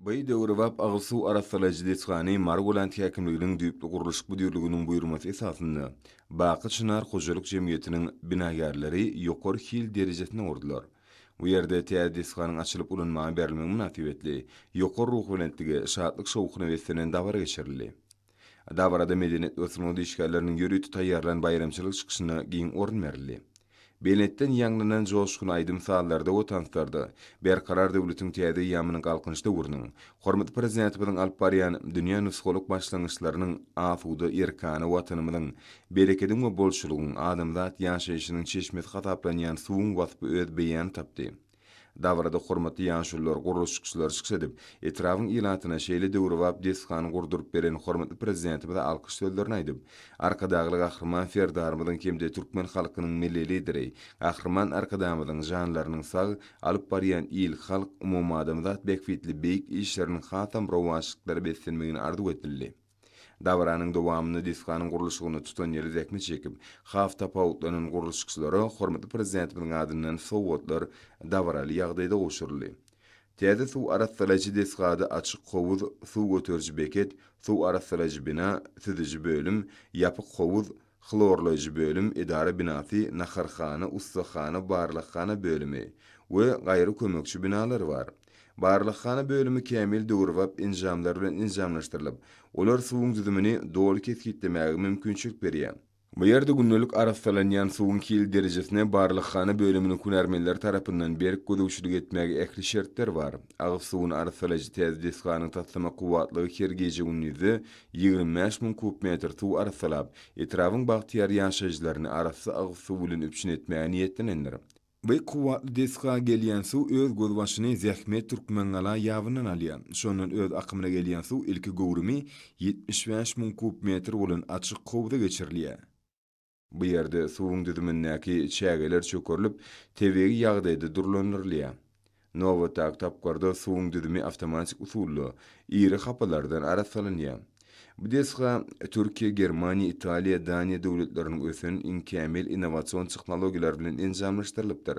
By döwrebap agyz suw arassalaýjy desgany Margoland häkimliginiň düýpli gurluşyk müdirliginiň buýurmasy esasynda Baky çynar hojalyk jemgyýetiniň binagärleri ýokary hil derejesine urdular. Bu ýerde täze desganyň açylyp ulanmaga berilmegi mynasybetli ýokary ruhubelentlige, şatlyk-şowhuna beslenen dabara geçirildi. Dabarada medeniýet we sungat işgärleriniň ýörite taýýarlan baýramçylyk çykyşyna giň orun berildi. Belentden ýaňlanan joşgunly aýdym-sazlarda we tanslarda Berkarar döwletiň täze eýýamynyň Galkynyş döwrüniň, hormatly Prezidentimiziň alyp barýan dünýä nusgalyk başlangyçlarynyň asuda, erkana Watanymyzyň, berekediň we bolçulygyň, adamzat ýaşaýşynyň çeşmesi hasaplanýan suwuň waspy öz beýanyny tapdy. Dabarada hormatly ýaşulular, gurluşykçylar çykyş edip, etrabyň ilatyna şeýle döwrebap desgany gurduryp beren hormatly Prezidentimize alkyş sözlerini aýdyp, Arkadagly Gahryman Serdarymyzyň hem-de türkmen halkynyň Milli Lideri, Gahryman Arkadamyzyň janlarynyň sag, alyp barýan il-halk, umumadamzat bähbitli beýik işleriniň hasam rowaçlyklara beslenmegini arzuw edildi. Dabaranyň dowamynda desganyň gurluşygyny tutan ýyly zähmet çekip, has tapawutlanan gurluşykçylara hormatly Prezidentimiziň adyndan sowgatlar dabaraly ýagdaýda gowşuryldy. Täze suw arassalaýjy desgada açyk howuz, suw göteriji beket, suw arassalaýjy bina, süzüji bölüm, ýapyk howuz, Hlorlaýjy bölüm edara binasy, naharhana, ussahana, barlaghana bölümi we gaýry kömekçi binalar bar. Barlaghana bölümi kämil döwrebap enjamlar bilen enjamlaşdyrylyp, olar suwuň düzümini doly kesgitlemäge mümkinçilik berýär. Bu ýerde gündelik arassalanýan suwuň hil derejesine barlaghana bölüminiň hünärmenleri tarapyndan berk gözegçilik etmäge ähli şertler bar. Agyz suwuny arassalaýjy täze desganyň taslama kuwwatlygy her gije-gündizde Ýigrimi bäş müň kub metr suw arassalap, etrabyň bagtyýar ýaşaýjylaryny arassa agyz suw bilen üpjün etmäge niýetlenendir. Bu kuwwatly desga gelýän suw öz gözbaşyny Zähmet Türkmengala ýabyndan alýar. Şondan öz akymyna gelýän suw ilki göwrümi ýetmiş bäş müň kub metr bolan açyk howza geçirilýär. Bu ýerde suwuň düzümindäki çägeler çökerilip, tebigy ýagdaýda durlandyrylýar. Nobatdaky tapgyrda suwuň düzümi awtomatik usulda iri hapalardan arassalanýar. Bu desga Türkiýe, Germaniýa, Italiýa, Daniýa döwletleriniň ösen, iň kämil innowasion tehnologiýalary bilen enjamlaşdyrylypdyr.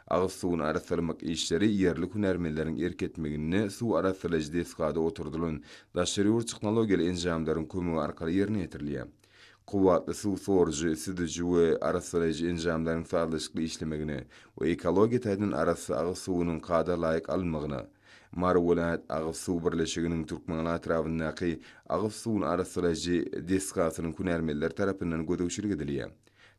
Agyz suwuny arassalamak işleri ýerli hünärmenleriň erk etmeginde suw arassalaýjy desgada oturdylan daşary ýurt tehnologiýaly enjamlaryň kömegi arkaly ýerine ýetirilýär. Kuwwatly suw sorujy, süzüji we arassalaýjy enjamlaryň sazlaşykly işlemegine we ekologiýa taýdan arassa agyz suwunyň kada laýyk alynmagyna, Mary welaýat agyz suw birleşiginiň Türkmenaly atrabyndaky agyz suwuny arassalaýjy desgasynyň hünärmenleri tarapyndan gözegçilik edilýär.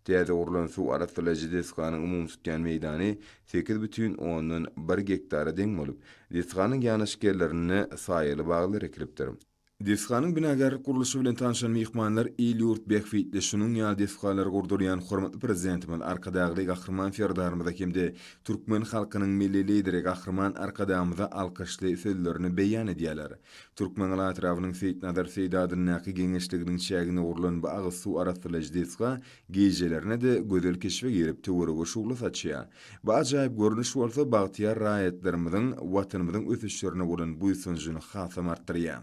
Täze gurlan suw arassalaýjy desganyň umumy tutýan meýdany sekiz bütin ondan bir gektara deň bolup, desganyň ýanaşyk ýerlerinde saýaly baglar ekilipdir. Desganyň binagärlik gurluşy bilen tanşan myhmanlar il-ýurt bähbitli şunuň ýaly desgalary gurdurýan hormatly Prezidentimiz Arkadagly Gahryman Serdarymyza hem-de türkmen halkynyň Milli Lideri Gahryman Arkadagymyza alkyşly sözlerini beýan edýärler. Türkmeňala etrabynyň Seýitnazar Seýit adyndaky Geňeşliginiň çäginde gurlan bu agyz suw arassalaýjy desga Gijelerine-de gözel keşbe girip töwerege şugla saçýar. Bu ajaýyp görnüş bolsa bagtyýar raýatlarymyzyň Watanymyzyň ösüşlerine bolan buýsanjyny hasam artdyrýar.